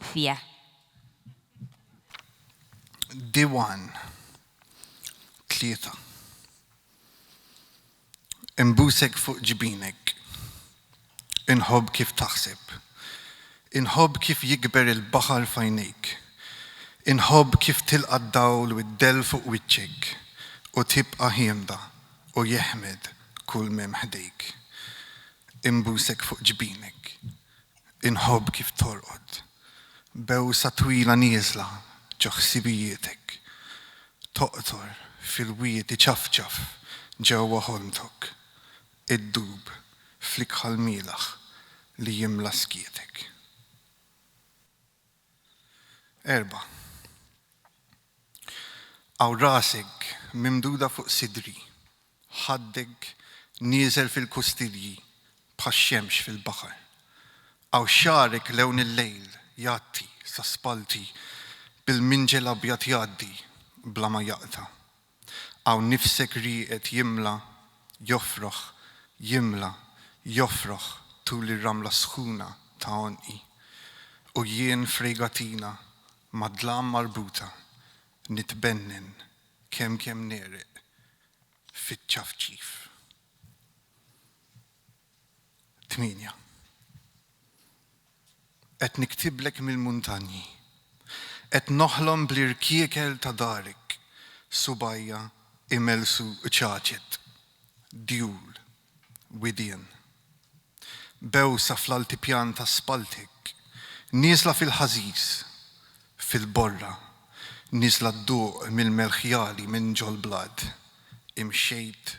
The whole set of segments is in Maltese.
fih. Diwan, 3. Inbusek fuq ġbinek. Inħobb kif taħseb. Inħobb kif jikber il-baħar f'għajnejk. Inħobb kif tilqa' d-dawl u d-dell fuq wiċċek u tibqa' ħiemda u jeħmed kull m'hemm ħdejk. Inbusek fuq ġbinek. Inħobb kif torqod b'għewsa twila nieżla ġo ħsibijietek, toqtor fil-wied iċafċaf ġewwa ħolmtok, iddub fl-ikħal mielaħ li jimla skietek. Erba'. Hawn rasek mimduda fuq sidri, ħaddek nieżel fil-kustilji bħax-xemx fil-baħar. Hawn xagħrek lewn il-lejl jgħatti sa spallti bil-minġel abjad jgħaddi bla ma jaqta'. Hawn nifsek rieqed jimla, jofroħ, jimla, jofroħ tul ir-ramla sħuna ta' għonqi, u jien f'rejgatina mad-dlam marbuta nitbennen kemm kemm negħreq fiċ-ċafċif. 8. Qed niktiblek mill-muntanji, qed noħlom bl-irkiekel ta' darek, subgħajja imelsu ċaċet, djul, widien. Bewsa fl-altipjan ta' spalltek, nieżla fil-ħażiż, fil-borra, nieżla dduq mill-melħjali minn ġol-blat, imxejt,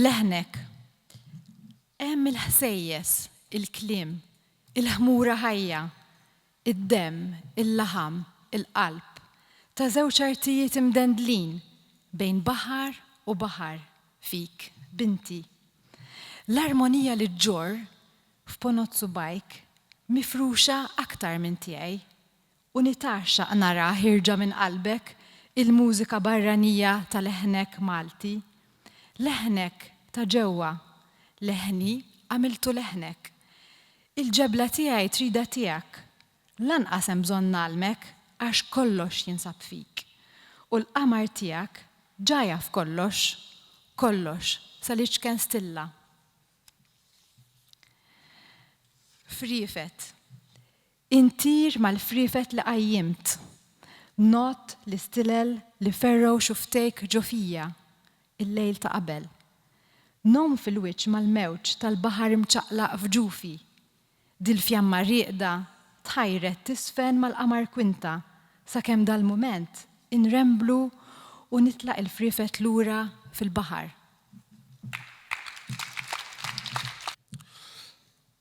Leħnek. Hemm il-ħsejjes, il-kliem, il-ħmura ħajja, id-demm, il-laħam, il-qalb, ta' żewġ artijiet imdendlin bejn baħar u baħar, fik, binti. L-armonija li ġġorr f'ponot subgħajk mifruxa aktar minn tiegħi U nitgħaxxaq narah jirġa' minn qalbek il-mużika barranija ta' leħnek Malti. Leħnek ta' ġewwa. Leħni għamiltu leħnek. Il-ġebla tiegħi tridha tiegħek. Lanqas hemm bżonn ngħallmek għax kollox jinsab fik. U l-qamar tiegħek ġa jaf kollox. Kollox sal-iċken stilla. Friefet. Intir mal-friefet li qajjimt. Ngħodd l-istilel li fergħu xuftejk ġo fija, il-lejl ta' qabel. Ngħum fil-wiċċ mal-mewġ tal-baħar imċaqlaq f'ġufi. Dil-fjamma rieqda tħajret tiżfen mal-qamar kwinta sakemm dal-mument inremblu u nitlaq il-friefet lura fil-baħar.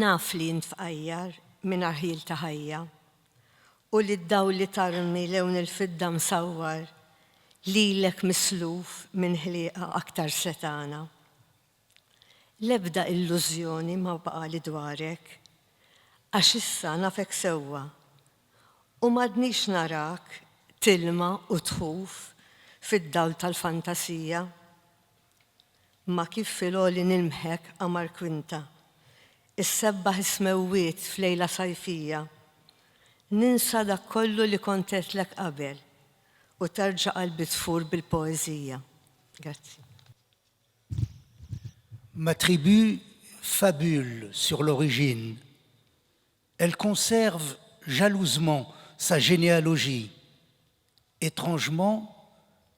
Naf li int fqajjar mingħajr ħjiel ta' ħajja, u li d-dawl li tarmi lewn il-fidda msawwar lilek misluf minn ħlieqa aktar setgħana. L-ebda illużjoni ma baqgħali dwarek, għax issa nafek sewwa, u m'għadnix narak tilma' u tħuf fid-dawl tal-fantasija. Ma kif fil-għoli nilmħek, qamar kwinta, Issebbaħ is-smewwiet f'lejla sajfija, Ninsa dak kollu li kont għedtlek qabel, U terġa' qalbi tfur bil-poeżija. Grazzi. M'attribue fabule sur l'origine, Elle conserve jalousement sa généalogie, Étrangement,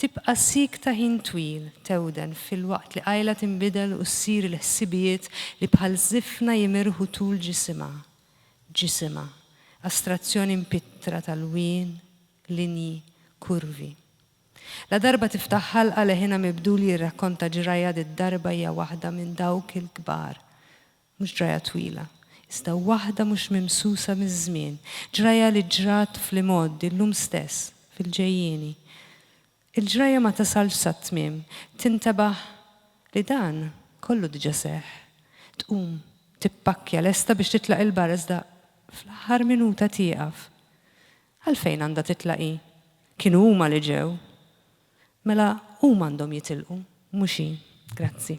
Tibqa' siekta ħin twil, tewden, filwaqt li qajla tinbidel u ssir il-ħsibijiet li bħal żifna jimirħu tul ġisimha. Ġisimha, astrazzjoni mpittra t'alwien, linji, kurvi. Ladarba tiftaħ ħalqa leħinha mibdul jirrakkonta ġrajja did-darba hija waħda minn dawk il-kbar. Mhux ġrajja twila, iżda waħda mhux mimsusa miż-żmien, ġrajja li ġrat fl-imgħoddi, llum stess, fil-ġejjieni. Il-ġrajja ma tasalx sat-tmiem, tintebaħ li dan kollu diġà seħħ. Tqum, tippakkja lesta biex titlaq 'il barra iżda fl-aħħar minuta tieqaf. Għalfejn għandha titlaq hi? Kienu huma li ġew. Mela huma għandhom jitilqu, mhux hi. Grazzi.